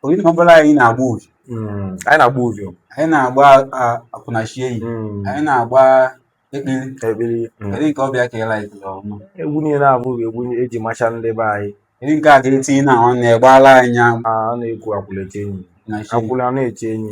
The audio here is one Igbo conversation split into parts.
oyi na ọmambala anyị na-agba uvie hmm. anyị na-agba uvie anyị na-agba akwụnechenyi hmm. anyị na-agba ekpiri ekpiri hmm. kedu nke ọbịa ka ịla ikele ọma egwu niile a bụ egwu eji macha ndị be anyị kedu nke a ga-etinye na ọ na-egbala anyị ọ na-ekwu akwụlechenyi akwụla na-eche enyi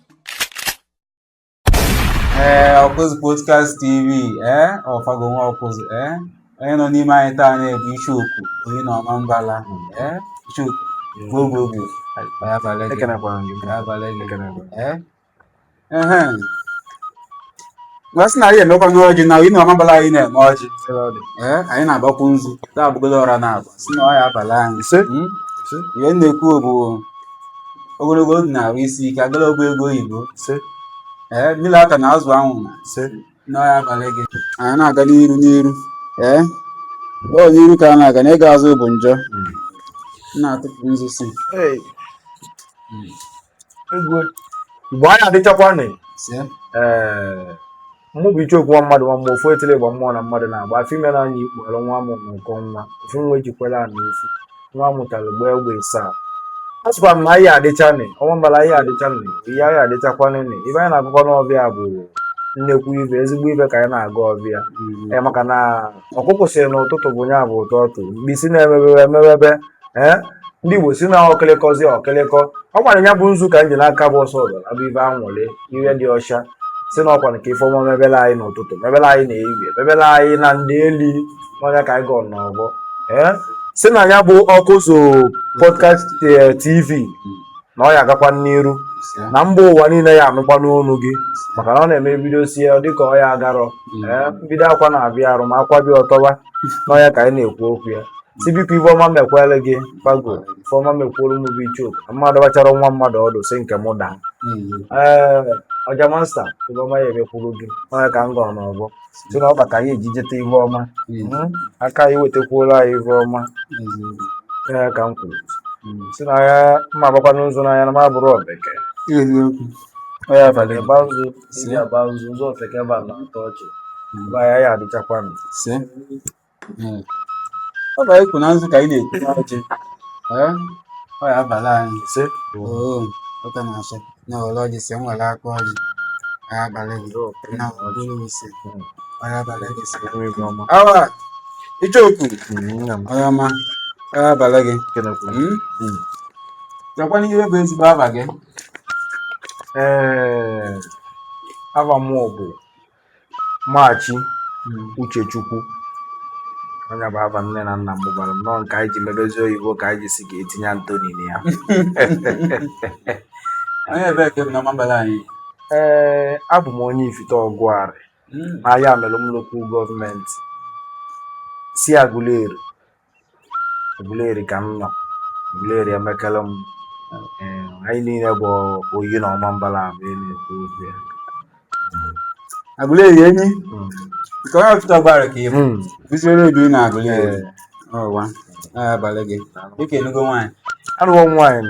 ee eh, ọkụzụ podcast tv ee eh, ọfago nwa ọkụzụ ee eh, onye nọ n'ime anyị taa bụ icheoku oyi na ọmambala ee icheoku gbogbogbo abala gị abala gị ee Nwa sị na anyị emekwa n'ọjị na Oyi na Ọmambala anyị na-eme ọjị. Ee, anyị na-agbakwu nzu. Taa abụgodo ọra na-agba. Sị na ọ ya abala anyị. Ise. Mm. Ise. Ihe m na-ekwu bụ ogologo ndụ na arụ isi ike agala ọgwụ ego oyibo. Ise. Ee, mmiri aka na azụ anwụ na Ise. na ọ ya abala gị. Anyị na-aga n'iru n'iru. Ee, ọ n'iru ka a na-aga na ịga azụ bụ njọ. M na-atụpụ nzu si. Hey. igwe igbo anyị adịchakwa nị ee mụ bụ icheoku nwa mmadụ nwa mmụọ ofu etile gba mmụọ na mmadụ na-agba afọ ime na anya ikpughere nwa amụ na ụkọ nwa ofu nwa ejikwere ana efu nwa amụtara gbaa egbe ịsaa a sịkwa m na anyị adịcha nị ọmambala anyị adịcha nị ihe anyị adịchakwa nị ive anyị na-agụkọ n'ọvịa bụ nnekwu ive ezigbo ive ka anyị na-aga ọvịa ee maka na ọkụkụ sịrị na ụtụtụ bụ nya bụ ụtụtụ mkpisi na-emebebe emebebe ee ndị igbo si na ọkịlịkọzi ọkịlịkọ ọkwa nya bụ nzu ka m ji n'aka bụ ọsọ udo na ọ bụ ive anwụlị ihe dị ọcha si na ọkwa nke ifeọma mebele anyị n'ụtụtụ mebele anyị na ehihie mebele anyị na ndeeli nya ka anyị gọọ n'ọvọ ee si na ya bụ ọkụzụ podcast eh, tv na ọ ya agakwa n'iru na mba ụwa niile ya anụkwanụ onu gị maka na ọ na-eme bido sie ọ dịka ọ ya agarọ mm. ee mbido akwa na-avịa arụ ma akwabe ọ tọba nya ka anyị na-ekwu okwu ya si biko ive ọma mekwere gị pago ifeọma mekwuru m bụ icheoku mmadụ gbachara nwa mmadụ ọdụ si nke m daa mm. ee ọja master ive ọma ya emekwuru gị nya ka m gọrọ n'ọvọ si na ọkpa ka anyị eji jeta ive ọma hmm? aka anyị wetakwuola anyị ive ọma ya ka m kwuru hmm. si na ya mma agbakwa nụ nzu n'anya na m abụrụ oveke onye abalị ịgba nzu si ya gba nzu ụzọ ofeke gba na-atọ ọchị mgbe hmm. ya ya adịchakwanụ hmm. ọ ive anyị kwu na nzu ka anyị na-ekwu n'ọjị ọ ya abala anyị ise oh. ụka na-asọ na ọrụ ọjị si nwere aka ọjị ya abala gị oh, na ọbụrụ ise hmm. ọ ya abala gị ise awa icheoku hmm, onye ọma ọ ya abala gị jụkwanị ive bụ ezigbo ava gị ee eh, ava mụ bụ Machi hmm. Uchechukwu onye bụ afa nne na nna m gwara m nọọ nke anyị ji medozie oyibo ka anyị ji si ga-etinye Antoni na ya ee abụ m onye Ifite Ọgwarị hmm. n'Ayamelum lokal gọọmenti si Aguleri Aguleri ka m nọ Aguleri emekele m anyị niile bụ Oyi na Ọmambala ahụ na-ekwu okwu ya Aguleri enyi hmm. nke onye Ifite Ọgwarị ka ị bụ hmm. bisiere ebi na Aguleri ọwa abalị gị dịka ị nụgo nwaanyị anụwo m nwaanyị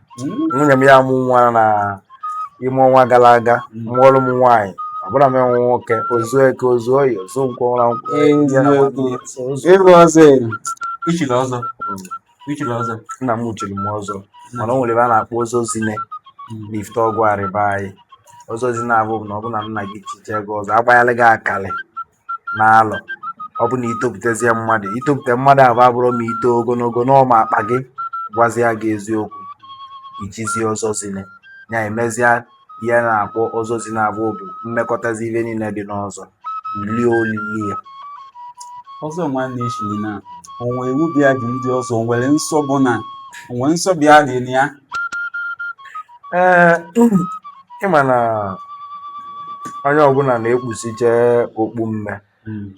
hmm. nwunye m ya amụ nwa na ime ọnwa gara aga hmm. mụọrụ m nwaanyị ọ bụ na m enwe nwoke o zu Eke o zu Oye o zu Nkwọ ụra nkwụ i chiri ọzọ i chiri ọzọ nna m chiri m ọzọ mana o nwere ive a na-akpọ ọzọ zine n'Ifite Ọgwarị be anyị ọzọ zine avụ na ọ bụ na nna gị chiche gị ọzọ agbanyela gị akalị na alọ ọ bụ na i topụtazie mmadụ itopụta mmadụ avụ abụrọ ma ito ogologo na ọ ma akpa gị gwazia gị eziokwu i chizie ọzọ zine ya emezia ihe a na-akpọ ọzọ zine avụ bụ mmekọtazi ive niile dị n'ọzọ lie olili ya ọzọ nwanne echiri na o nwe iwu bịa dị ndị ọzọ nwere nsọ bụ na o nwere nsọ bịa dị na ya ee ị ma na onye ọbụla na-ekpusiche okpu mme Mm,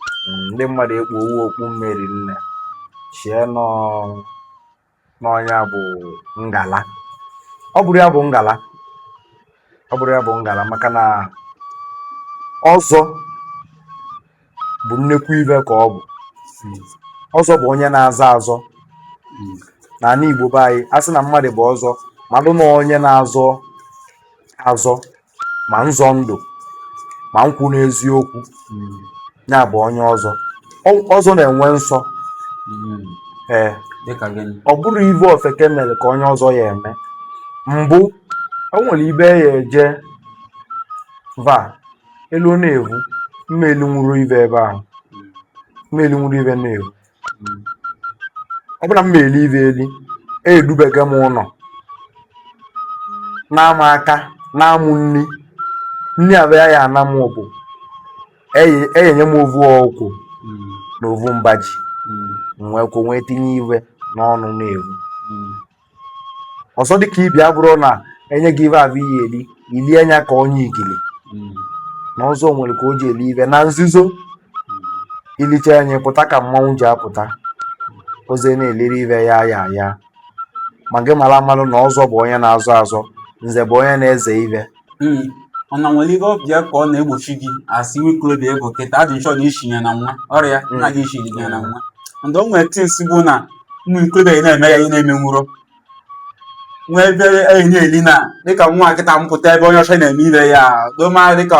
ndị mmadụ ekpuowo okpu mme rinne chie na ọ nya bụ ngala ọ bụrọ ya bụ ngala ọ bụrọ ya bụ ngala maka na ọzọ bụ nnekwu ive ka ọ bụ ọzọ bụ onye na-azọ azọ n'anị Igbo be anyị a sị na mmadụ bụ ọzọ malụ na onye na-azọ azọ ma nzọ ndụ ma nkwụ n'eziokwu ya bụ onye ọzọ Ọ- ọzọ na-enwe nsọ ee dịka gịnị ọ bụrọ ive ofeke mere ka onye ọzọ ya eme mbụ o nwere ibe ya eje va elu ọ na-evu m ma elinwuru ive ebe ahụ m ma elinwuru ive na-evu ọ bụla m ma eli ive eli edubega m ụnọ na-ama aka na-amụ nri nri abịa ya ana m bụ eye- eyenye m ovu ọkwụ na ovu mba ji m wee kwụ wee tinye ive n'ọnụ na-evu ọzọ dịka ibi abụrụ na e nye gị ive avụ i ye eli i lie nya ka onye igili na ọzọ nwere ka o ji eli ive na nzuzo i liche nya pụta ka mmanwụ ji apụta oze na-eliri ive ya ya ya ma gị mara amalụ na ọzọ bụ onye na-azọ azọ nze bụ onye na-eze ive nri mana o nwere ihe ọbịa ka ọ na-egbochi gị asị nwe ikolobịa ego kịta adị nchọ na ishinye na nwa ọrịa nna gị ishinye na nwa and o nwere things bụ na ụmụ ikolobịa ị na-eme ya ị na-eme nwụrụ nwee ebe enyi na-eli na dịka nwa kịta ịpụta ebe onye ọcha na-eme ive ya doma dịka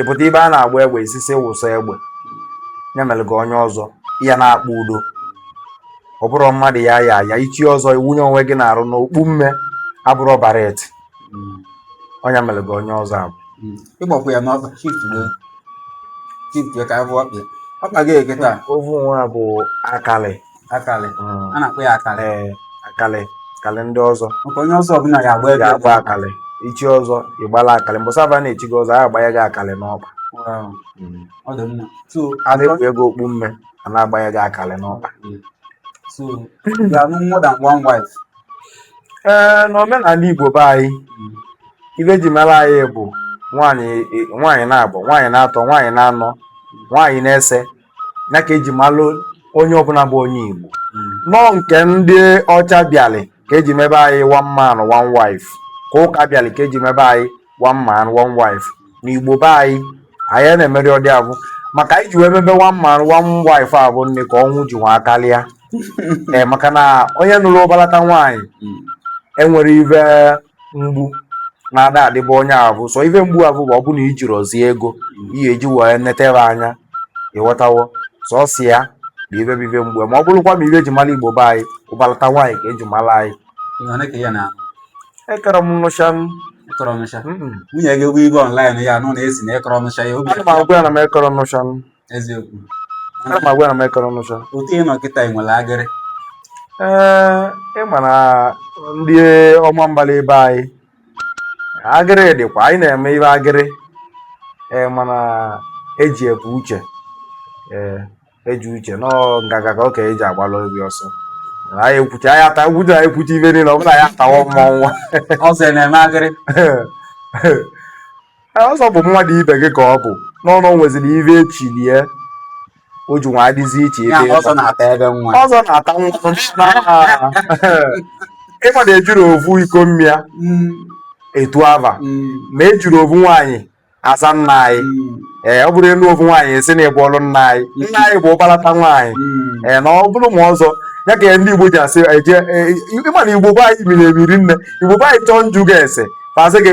ịpụta ebe a na-agba egbe ị sị sị wụsa egbe ya mere gị onye ọzọ ya na-akpa udo ọ bụrụ mmadụ ya ya ya ichi ọzọ iwunye onwe gị n'arụ na okpu mme abụrọ baret onye mere gị onye ọzọ abụ ịgbakwa ya n'ọkpa shift gị shift gị ka a vụ ọkpa ọkpa gị eketa ovu nwa bụ akalị akalị a na-akpọ ya akalị ee akalị akalị ndị ọzọ maka onye ọzọ ọbụla ya agba ebe ga-agba akalị ichi ọzọ ịgbala akalị mbọsị avụ a na-echi gị ọzọ a agbanye gị akalị n'ọkpa ọ dị mma so a na-ekpu gị okpu mme a na-agbanye gị akalị n'ọkpa so ya anụ more than one wife ee n'omenala igbo be anyị ive eji mara anyị bụ nwaanyị nwaanyị na-abọ nwaanyị na-atọ nwaanyị na-anọ nwaanyị na-ise ya ka eji malụ onye ọbụla bụ onye Igbo na ọ nke ndị ọcha bịalị ka eji mebe anyị one man one wife ka ụka bịalị ka eji mebe anyị one man one wife na Igbo be anyị anyị ana-emerọ ụdị avụ maka anyị ji wee mebe one man one wife avụ nya ka ọnwụ ji nwa karịa ee maka na onye nụrụ ụbalata nwaanyị enwere ive mgbu na-ada adịbụ onye avụ sọ ife mgbu avụ bụ ọ bụrụ na ijirọzi ego ihe eji wee netebe anya ịghọtawo sọsọ ya bụ ife bụ ife mgbu ma ọ bụrụkwa ma ife eji mara igbo be anyị ụbalata nwaanyị ka eji mara anyị ekere m nụcha nwunye gị bụ ebe online ya nụ na ị sị na ekọrọ nụcha ya obi agwa ya na m ekọrọ nụcha eziokwu ana m agwa ya na m ịkọrọ n'ụzọ otu ị nọ kịta ị nwere agịrị ee ị ma na ndị Ọmambala be anyị agịrị dịkwa anyị na-eme ive agịrị ee mana eji ebu uche ee eji uche nọ ngaga ka ọ ka eji agbala obi ọsọ anyị ekwucha anyị ata gwudo anyị ekwucha ive niile ọ bụla anyị atawa mmọnwụ ọsọ ị na-eme agịrị Ee, ọzọ bụ mmadụ ibe gị ka ọ bụ n'ọnụ o nweziri ive echili e o ji nwa adịzi iche Ya ebe ọzọ ịnọ. na-ata ebe nwa. ọzọ na-ata nwa ịma na ejirọ ovu iko mmịa Mm, etu ava mm, ma ejirọ ovu nwaanyị aza nna anyị mm, ee ọ bụrụ ị nụ ovu nwaanyị asị na ịbụrọ nna anyị nna anyị bụ ụbalata nwaanyị mm. ee na ọ bụrụ ma ọzọ ya ka ndị igbo ji asị eje ee, ịma na igbo be anyị miri emi rinne igbo be anyị chọọ nju ga ese fasị gị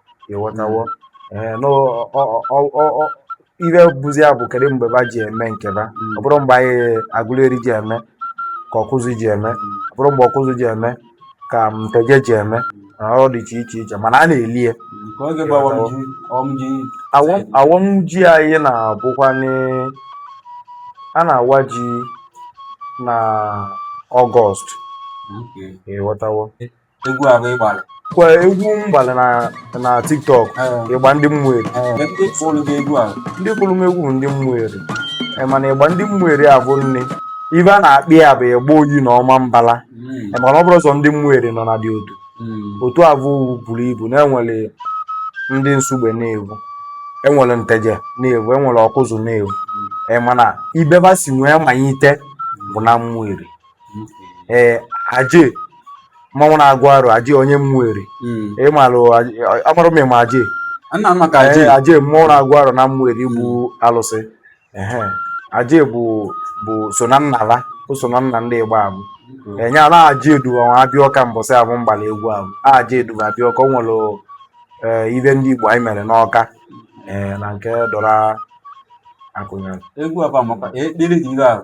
ịghọtawo ee na ọ- ọ- ọ- ọ- ọ- ihe bụzi ya bụ kedu mgbe ba ji eme nke ba ọ bụrọ mgbe anyị agụleri ji eme ka ọkụzụ ji eme ọ bụrọ mgbe ọkụzụ ji eme ka nteje ji eme na ọ dị iche iche iche mana a na-eli ya ka oge bụ awam ji awam ji Awọm- awọm ji anyị na-abụkwanụ a na-awa ji na ọgọst Okay. ịghọtawo egwu abụ ị gbalị kwa egwu m gbalị na na tiktok Eh. igba ndị ụmụeri ee ndị kụlụ gị egwu a ndị kụlụ m egwu bụ ndị ụmụeri Eh, mana igba ndị ụmụeri abụ nne ibe a na-akpị ya bụ igba oyi na ọmambala Eh, mana ọ bụrọ sọ ndị ụmụeri nọ na dị otu otu abụ buru ibu na enwere ndị nsugbe n'evu enwere nteje n'evu enwere ọkụzụ n'evu Eh, mana ibe ba si nwee manyite bụ na ụmụeri ee aje mmụọ na-agụ arọ aje onye ụmụeri Mm. ịmalụ amarọ m ma ịma aje Nna m maka aje aje aje mmụọ na-agụ arọ na ụmụeri bụ alụsị ehe aje bụ bụ so na nnala o so na nna ndị igba abụ enye ala aje edu ba nwa abịa ọka mbọsị abụ m gbalị egwu abụ aje edu ba abịa ọka o nwere ee, ibe ndị igbo anyị mere n'ọka ee, na nke dora akụnyịlị egwu a bụ amaka ekpere dị ire ahụ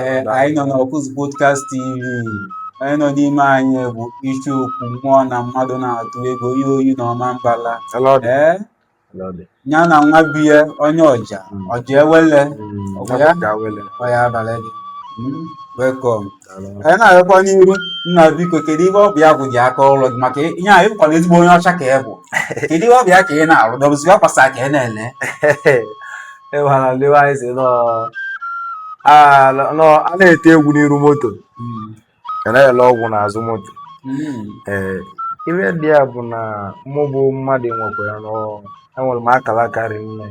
ee anyị nọ n'ọkụzụ podcast tv onye nọ n'ime anyị bụ isi okwu mmụọ na mmadụ na-atụ egwu ihe oyi na ọmambala ee ya na nwa be ya onye ọja hmm. ọja ewele hmm. ọya abalị gị hmm. welcome anyị na-agakwa n'iru nna biko kedu ihe ọ bụ ya bụ ji aka ọlụ gị maka ihe anyị bụkwara ezigbo onye ọcha ka ị bụ kedu ihe ọ bụ ya ka ị na-arụ ọ bụzi akwasa ka ị na-ele ịmara ndị be anyị sị na a na a na-ete egwu n'iru moto ka na-ele ọgwụ n'azụ moto ee ihe dị ya bụ na mụ bụ mmadụ nwekwara na ọ- enwere m akala aka rinne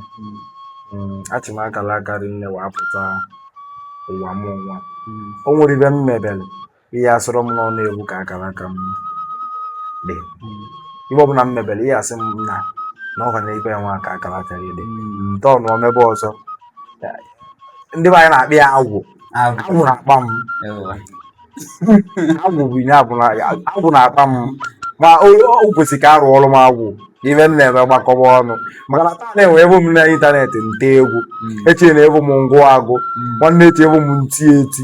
Mm, achị m akala aka rinne wee pụta ụwa m nwa o nwere ibe m mebere ị ya-asịrị m na ọ n'evu ka akara aka m dị ibe ọbụla m mebere ị ya-asị m na na ọha na ibe nwa ka akara aka gị dị nke ọnụ omebe ọzọ ndị be anyị na-akpị ya agwụ agwụ na-akpa m agwụ bụ ihe abụla agwụ na-akpa m ma o o kwesịrị ka a rụọlụ m agwụ ibe m na-eme gbakọba ọnụ maka na taa nwa ị vụ m n'ịntanetị nte egwu echi na ị vụ m ngụ agụ nwanne echi ị vụ m nti eti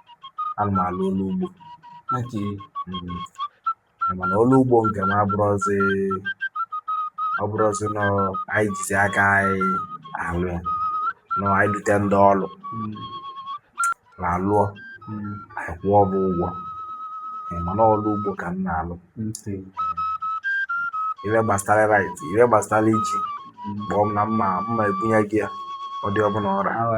ana m alụ ọlụ ugbo okay mm, mana ọlụ ugbo nke m abụrụzi ọ bụrụzi na anyị jizi aka anyị alụ ya na anyị dute ndị ọlụ mm, na alụọ mm, anyị kwụọ ba ụgwọ Eh, mana ọlụ ugbo ka m na-alụ ntị, ibe gbasara raịs ibe gbasara iji mm. kpọọ m na m ma ebunye gị ya ụdị ọbụla ọra awa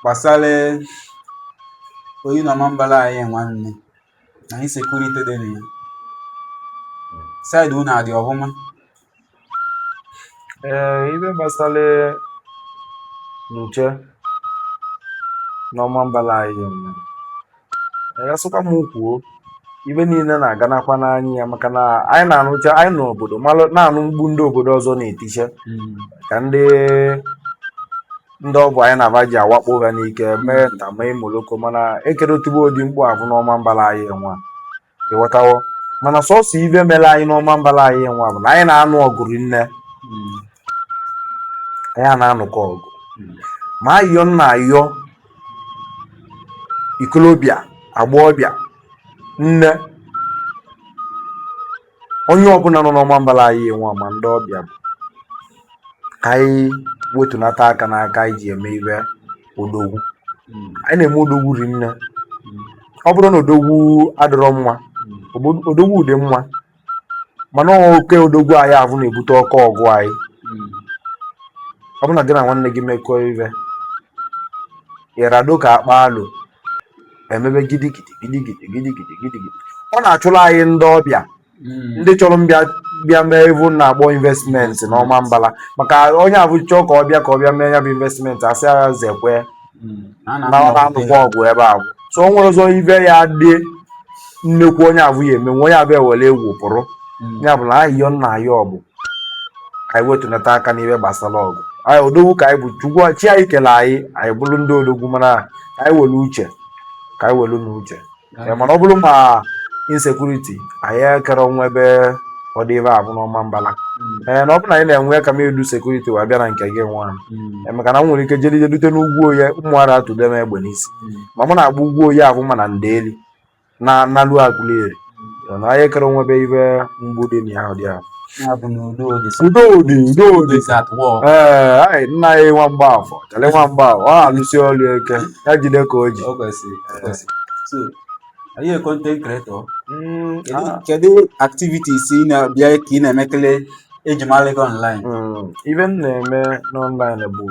gbasara oyi na Ọmambala anyị nwanne na insekuriti dị na ya saịdị unu adị ọhụma ee ibe gbasara nche n'Ọmambala anyị nwa ya sịkwa m kwuo ibe niile na-aganakwa n'anya ya maka na anyị na-anụcha anyị nọ obodo a na-anụ mkpu ndị obodo ọzọ na-eticha hmm. ka ndị ndị ọgwụ anyị na-aba ji awakpo ha n'ike mee nta mee imoloko mana ekero etibe ụdị mkpu abụ n'Ọmambala anyị nwa ị ghọtawo mana sọsọ ibe mere anyị n'Ọmambala anyị nwa bụ na anyị na-anụ ọgụ rinne anyị a na-anụka ọgụ ma ayọ nna ayọ ikolobịa agbọghọbịa nne onye ọbụla nọ n'Ọmambala anyị nwa ma ndị ọbịa bụ ka anyị wetunata aka n'aka anyị ji eme ibe odogwu hmm. anyị na-eme odogwu rinne hmm. ọ bụrọ na odogwu adịrọ mma hmm. odogwu dị mma mana oke odogwu anyị ahụ na-ebute oke ọgụ anyị ọ bụrụ na gị na nwanne gị mekọọ ibe ịrado ka a kpaa alo emebe gidigidi gidigidi gidigidi gidigidi ọ na-achụrụ anyị ndị ọbịa hmm. ndị chọrọ ịbịa bịa mee ive a na-akpọ investmenti n'Ọmambala maka onye abụ chọọ ka ọ bịa ka ọ bịa mee ya bụ investmenti a sị ya zekwe hmm. na ọ na-anụkwa ọgụ ebe a so o nwere ọzọ ibe ya dị nnekwu onye abụ ya eme nwe onye abụ ewere egwu pụrụ hmm. ya bụ na ayịyọ m na-ayọ ọ bụ ka anyị wetunata aka n'ihe gbasara ọgụ anyị odogwu ka anyị bụ chukwu chi anyị kele anyị anyị bụrụ ndị odogwu mana ka anyị were uche ka anyị were na uche mana ọ bụrụ ma insekuriti anyị ekero enwebe ụdị ibe abụ n'Ọmambala hmm. ee eh, na ọ bụ na anyị na-enwe ka m edu sekuriti wee bịa na nke gị nwa hmm. eh, maka na m nwere ike jeli jedute n'ugwu oye ụmụ ara atụde m egbe n'isi hmm. ma mụ na-agba ugwu oye ahụ ma na ndeli na nalu Aguleri na anyị ekero enwebe ibe mgbu dị n'ụdị ahụ udo dị udo dị ee nna ya nwa mgbafọ chale nwa mgbafọ ọ na-alụsi ọrụ ike ya jide ka o ji Are you a content creator? Mm, ah. Kedu activities ị na-abịa ka ị na-emekele eji mara gị online? Mm, ive m na-eme n'online bụ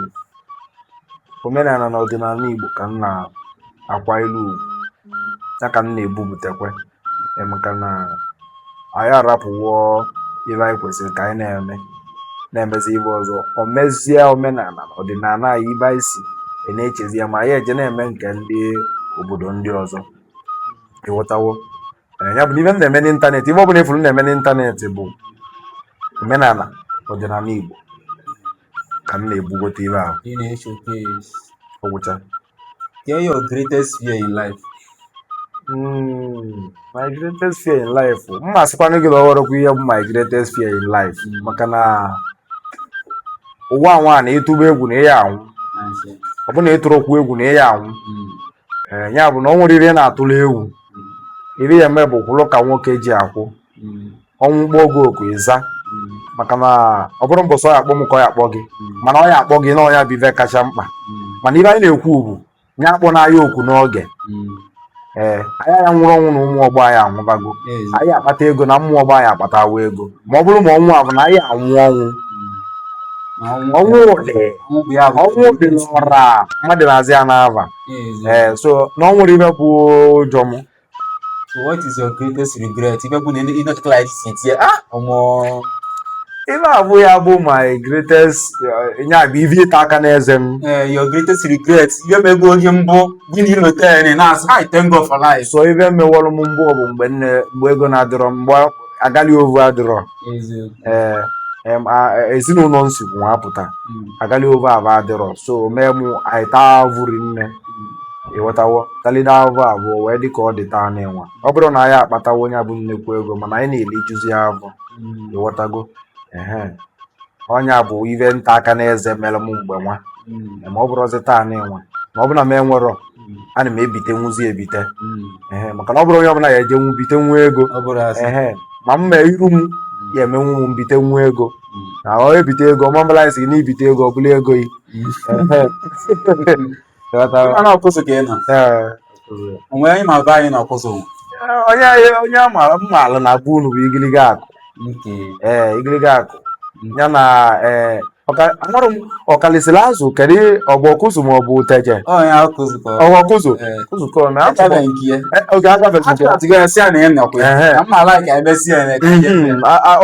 omenana na ọdịnana Igbo ka m na-akwa ilu ugwu ya ka m na-ebubutekwe maka na anyị arapụwo ive anyị kwesịrị ka anyị na-eme na-emezi ive ọzọ o mezie omenana ọdịnana anyị ive anyị si e na-echezi ya ma anyị eje na-eme nke ndị obodo ndị ọzọ ị ghọtawo ya bụ ive m na-eme n'internet ive ọ bụla ị fụrụ m na-eme n'internet bụ omenana ọdịnana Igbo ka m na-ebugote ebe ahụ ị na-eche case ọ gwụcha get your greatest fear in life Mm, my greatest fear in life m ma asịkwanụ gị na ọ ghọrọkwa ihe bụ my greatest fear in life Mm. maka na ụwa nwa na ị tụba egwu na ị ya anwụ Asị. ọ bụ na ị tụrọkwu egwu na ị ya anwụ Mm, Ee, ya bụ na o nwerọ ive na-atụrụ egwu ive ị ya eme bụ kwụrụ ka nwoke ji akwụ mm, ọnwụ kpọọ gị oku ị za maka na ọ bụrọ mbọsị ọ ya akpọ m ka ọ ya akpọ gị mana ọ ya akpọ gị nya bụ ive kacha mkpa mana ive anyị na-ekwu bụ nya akpọna anyị oku n'oge ee anyị ya nwụrụ ọnwụ na ụmụ ọgbọ anyị anwụbago anyị akpata ego na ụmụ ọgbọ anyị akpatawa ego ma ọ bụrụ ma ọnwụ a bụ na anyị anwụ ọnwụ ọnwụ dị ọnwụ dị n'ọra mmadụ na-aza ya n'ava ee so na o nwerọ ive bụ ụjọ m So what is your greatest regret? Ife bụ na ị nọtụkọla anyị si tie ah ọmọ ife abụ ya bụ my greatest eh, nya bụ ive ịta aka n'eze m eh, your greatest regret ihe mego oge mbụ gị na ilota ya na na-asị I thank God for life. so ife mewọrọ m mbụ bụ mgbe nne mgbe ego na-adịrọ mgbe agali ovu adịrọ ee ezinụlọ m si wee pụta hmm. agali ovu avụ adịrọ so mee mụ anyị taa avụ rinne ị ghọtawo talide avụ avụ wee dị ka ọ dị taa n'ịnwa ọ bụrụ na anyị akpatawo nya bụ nnekwu ego mana anyị na-elijuzi avọ hmm. ị ghọtago ehe ọ nya bụ ive ịta aka n'eze mere m mgbe nwa hmm. ma ọ bụrụzi taa n'ịnwa ma ọ bụ na m enwerọ ana m ebite nwuzi ebite hmm. maka na ọ bụrụ onye ọbụla ya eje nwu bite nwa ego ma m mee iru m hmm. ya emenwu m mbite nwa ego hmm. na ọ ebite ego Ọmambala anyị sị na ibite ego ọ bụla ego gị ana Ọkụzụ ka ị nọ onwe anyị ma be anyị na Ọkụzụ onye onye mmaala na-abụ unu bụ igiliga akụ ee igiliga akụ ya na ee eh, amarọ m ọkalisiri azụ kedu ọ bụ ọkụzụ ma ọ bụ nteje ọ bụ ọkụzụ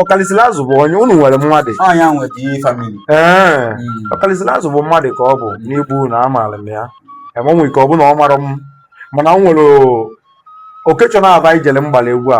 ọkalisiri azụ bụ onye unu nwere mmadụ ọkalisiri azụ bụ mmadụ ka ọ bụ n'ivu na amaara m ya enwere ike ọ bụ na ọ mara m mana m nwere okechọ na-aba ijele mgbala egwu a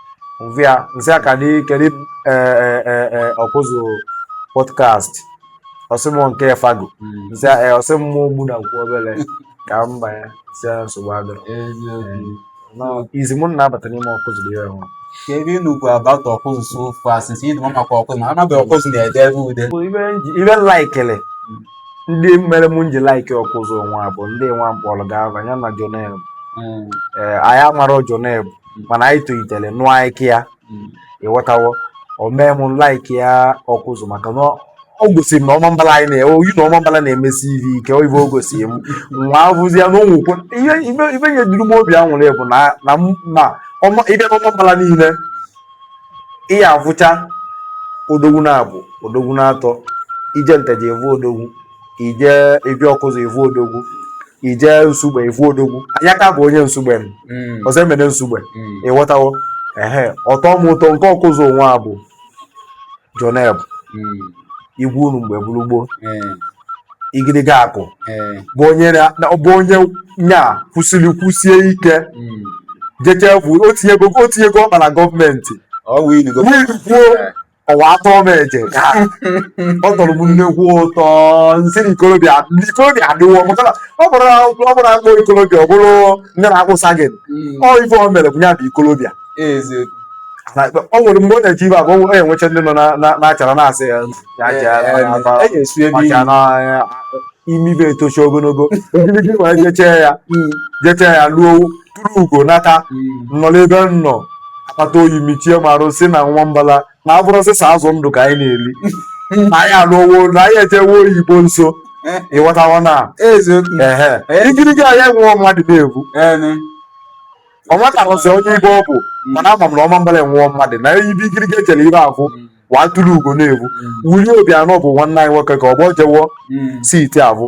via nsị aka dị kedu ọkụzụ podcast ọ sị mụ nke fago nsị ọ sị mụ ogbu na nkwụ obere ka m banye si nsogbu adịrọ izi mụ na-abata n'ime ọkụzụ dị ya ọhụrụ ka ive ị nụkwu about ọkụzụ so far since ịdị maka ọkụzụ ma amaghị ọkụzụ na-ede ebe ude ive i likelụ ndị mere m nji like ọkụzụ nwa bụ ndị nwa mkpọrọ ga-aba ya na joneb ee anyị amarọ joneb mana anyị tolitere nụọ ike ya ịghọtawo o mee m like ya ọkụzụ maka na o gosiri m na ọmambala anyị na-ewe oyi na ọmambala na-emesi ive ike oyibo o gosiri m nwa abụzi ya na o nwekwe ihe ive ive nyeduru m obi anwụrị bụ na na m na ọma ị bịa n'ọmambala niile ị ya-avụcha odogwu naabọ odogwu naatọ i je nteje ị vụ odogwu i je ebe ọkụzụ ị vụ odogwu i je nsugbe ị vụ odogwu ayaka bụ onye nsugbe m mm. ọzọemena nsugbe mm. ịghọtawo ehe ọ tọ m ụtọ nke ọkụzụ nwa bụ joneb mm. igwe unu mgbe gburu gboo igirigi akụ bụ onye nya kwụsịrị kwụsie ike jechefu o tinyego ọkpa na gọọmenti wee lukwuo ọ wa tọ m eje gaa ọ tọrọ m nnekwu ụtọ nsị na ikorobịa ikorobịa adịwo maka na ọ bụrụ ọ bụrụ akpọ ikorobịa ọ bụrụ ndị na-akpụsa gị ọ ife o mere bụ ya bụ ikorobịa eziokwu Na ikpe- ọ nwere mgbe ọ na-eji ibe abụọ ọ enwecha ndị nọ na- na- na-achara na-asị ya ya chara na- na- na- e ga-esu ebe maka na ya- imi bụ etochi ogologo ogologo ma jechee ya jechee ya ruo tụrụ ugo nata nọ n'ebe m nọ akpata oyi michie m arụ sị na ọmambala na abụrọ sọsọ azụ ndụ ka anyị na-eli na anyị alụwo na anyị ejewe oyibo nso ịghọtawa na ehe igirigi anyị enweghị mmadụ n'ivu ọ matarụsị onye ive ọ bụ mana ama m na ọmambala enwewo mmadụ na ive igirigi echere ive afụ wa tụrụ ugo n'ivu willie obiano bụ nwanne anyị nwoke ka ọ bụ jewo site abụ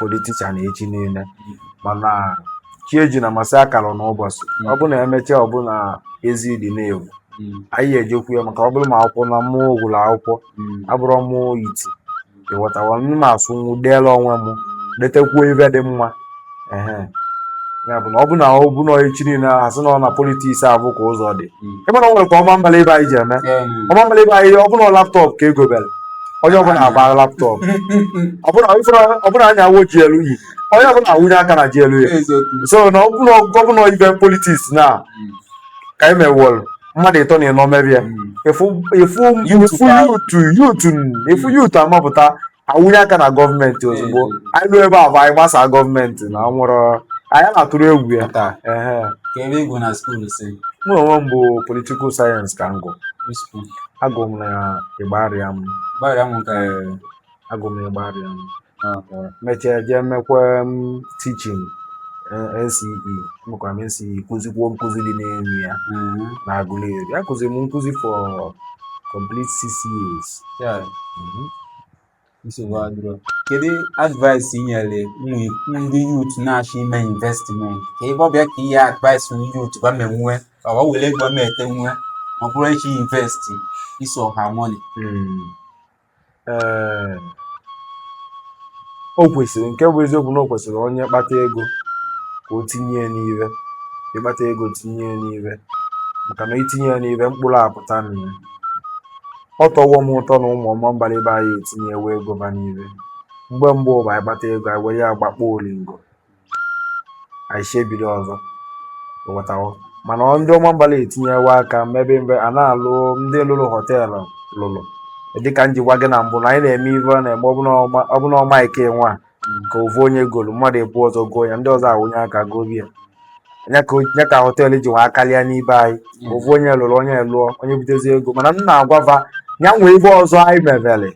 politician echi niile mana chi ejina ma asị akaluna ụbọchị ọ bụ na emechaa ọ bụ na ezi dị n'ivu anyị ejekwu ya maka ọ bụrụ ma akwụkwọ na mụ gụrụ akwụkwọ abụrọ mụ iti ịghọtawa m ma asụnwu deela onwe m detekwuo ive dị mma ehe ya bụ na ọ bụ na ọ bụ na echi niile asị na ọ na politics avụ ka ụzọ dị ịma na ọ nwere ka Ọmambala ibe anyị ji eme Ọmambala ibe anyị ọ bụ na laptọpụ ka egobere onye ọbụla agbara laptọpụ ọ bụ na anyị awụ GLE onye ọbụla awụnye aka na GLE so na ọ bụ na gọvanọ ibe politiks na hmm. ka anyị mewọrụ mmadụ ịtọ na ịnọ mebie efu yutu yutu amapụta awụnye aka na gọọmenti ozugbo anyị ruo ebe a bụ anyị gbasaa gọọmenti na ọ nwerọ anyị na-atụrụ egwu ya taa ehe ka ebe ị gụ na skuul sir mụ onwe m bụ politikal sayensị ka m gụ agụ m na Igbariam Igbariam nke agụ m na Igbariam mechaa jee mekwa tichin NCE mekwara m NCE kụzikwuo nkụzi dị n'elu ya na Aguleri akụziri m nkụzi for complete six years nsogbu adịrọ kedu advice i nyere ụmụ ndị yut na-achọ ime investment ka ebe ọ bịa ka ihe advice ndị yut ba menwe ọ ba were ego ma ete nwe ma ọ bụrụ echi invest iso ha money Ee, o kwesịrị nke bụ eziokwu na o kwesịrị onye kpata ego ka o tinye ya n'ive ị kpata ego tinye ya n'ive maka na i tinye ya n'ive mkpụrụ apụta na ya Ọ tọwo m ụtọ na ụmụ Ọmambala ibe anyị etinyewo ego ba n'ive. Mgbe mbụ ọ bụ anyị kpata ego anyị were ya gbakpọ olingo anyị echi bido ọzọ ị ghọtawo mana ndị Ọmambala etinyewo aka mebe mbe a na-alụ ndị lụrụ họteelụ lụrụ dịka m ji gwa gị na mbụ na anyị na-eme ive ọ na-eme ọbụna ọma ọbụna ọma ike nwa ka ovu onye golu mmadụ ebu ụzọ goo ya ndị ọzọ awụnye aka gobe ya ya ka o- ya ka họteelụ ji wee akarịa n'ibe anyị ovu onye lụrụ onye lụọ onye butezi ego mana m na-agwa va ya nwee ibe ọzọ anyị mebere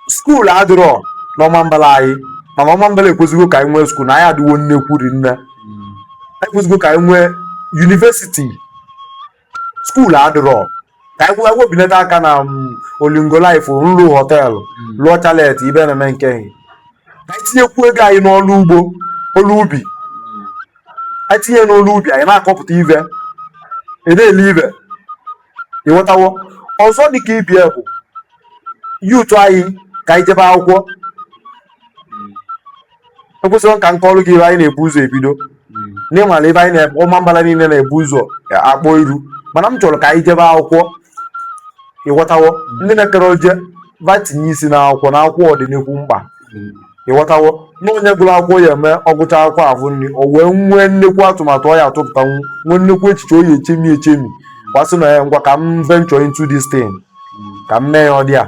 skuul adịrọ n'Ọmambala anyị mana Ọmambala ekwesịgo ka anyị nwee skuul na anyị adịwo nnekwu rinne anyị kwesịgo ka anyị nwee yunivesiti skuul adịrọ ka anyị webinata aka na mm, olingo life nlu họteelụ lụọ chalet ibe na-eme nke anyị ka anyị tinyekwu ego anyị n'ọrụ ugbo ọrụ ubi anyị tinye n'ọrụ ubi anyị na-akọpụta ive na-ele ive ị ghọtawo ọzọ dị ka ibie bụ yutu anyị ka anyị jebe akwụkwọ ekwesịrị ka nke ọrụ gị ibe anyị na-ebu ụzọ ebido n'ịmara ebe anyị na-ekpe Ọmambala niile na-ebu ụzọ akpọ iru mana m chọrọ ka anyị jebe akwụkwọ ị ghọtawo ndị na-ekere oje va tinye isi na akwụkwọ na akwụkwọ ọ dị anyị mkpa ị ghọtawo na onye gụrụ akwụkwọ ya eme ọ gụcha akwụkwọ ahụ nri o wee nwee nnekwu atụmatụ ọ ya atụpụtanwu nwee nnekwu echiche o ya echemi echemi bịa sị na ya ngwa ka m venture into this thing ka m mee ya ọ dị a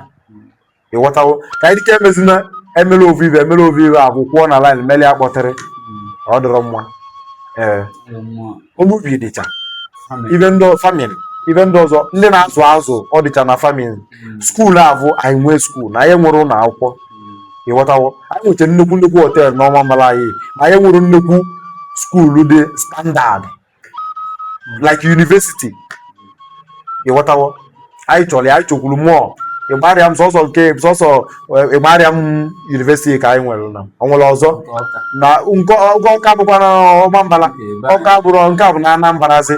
ịghọtawo ka anyị dịka e mezina e mere ovu ive e mere ovu ive akwụ kwụọ na laịn meli akpọtịrị ọ dịrọ mma ee omubi dịcha ive ndị famịlị ive ndị ọzọ ndị na-azụ azụ ọ dịcha na famịlị hmm. skuulu avụ anyị nwee skuulu na anyị nwere ụlọ akwụkwọ hmm. ịghọtawo anyị nwechara nnekwu nnekwu họteelụ n'Ọmambala anyị ma anyị nwere nnekwu skuulu dị standaadị like university ịghọtawo anyị chọrọ ya anyị chọkwuru mụọ Ịgbarịam sọsọ nke sọsọ Ịgbarịam university ka anyị nwere na ọ nwere ọzọ na nke ọgọ Ọka bụkwa na Ọmambala Ọka bụrụ nke a bụ na Anambara zi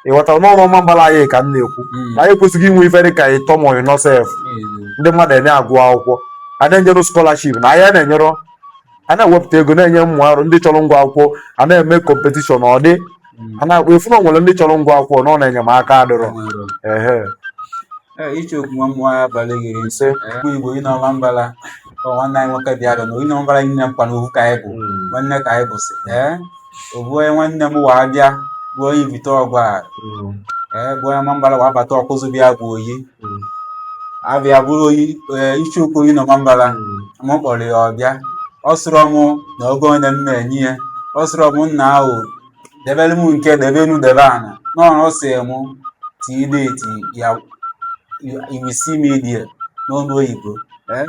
ịghọtara n'ọrụ Ọmambala anyị ka m na-ekwu na anyị ekwesịghị inwe ive dị ka ịtọ ma ọ bụ ịnọ sef ndị mmadụ ana-agụ akwụkwọ a na-enyere scholarship na anyị na-enyere a na-ewepụta ego na-enye ụmụ arọ ndị chọrọ ịgụ akwụkwọ a na-eme kọmpetishọn ọ dị a na-akpọ efu na o nwere ndị chọrọ ịgụ akwụkwọ na onye enyemaka adịrọ ehe Ichie okwu nwa mmụọ ya abalị gị isee mgbe Igbo n'Ọmambala ọ nwanne anyị nwoke bịara na onye Ọmambala nne m kwa na ovu ka anyị bụ nwanne ka anyị bụsị ee ovu onye nwanne m wa abịa bụ onye Ivite Ọgwarị bụ onye Ọmambala wa abata Ọkụzụ bịa bụ Oyi hmm. abịa bụrụ eh, Ichie Ukwu n'Ọmambala hmm. m kpọrọ ya ọbịa ọ sịrọ m na ego one m na-enye ya ọ sịrọ m nna ahụ debere m nke debe enu debe ana n'ọrụ ọ sị m tii deti ya iwisi media n'onu oyibo eh,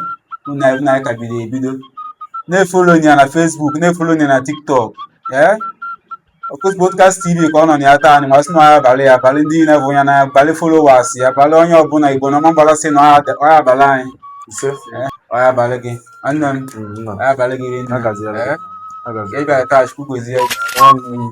na anyị ka bido ebido na-efolo ya na fesbuk na-efolo ya na tiktok ee eh? Ọkụzụ Podcast TV ka ọ nọ na ya taa anyị wa sị na ọ ya-abalị ya abalị ndị niile bụ ya na abalị followers ya abalị onye ọbụla Igbo n'Ọmambala sị na ọ ya-abalị anyị ise Eh, ọ ya-abalị gị nwanne m Mm, nna. ọ ya-abalị gị rinne Agaziela. Eh, Agazi. ị bịara taa Chukwu gozie gị. Ọnụ.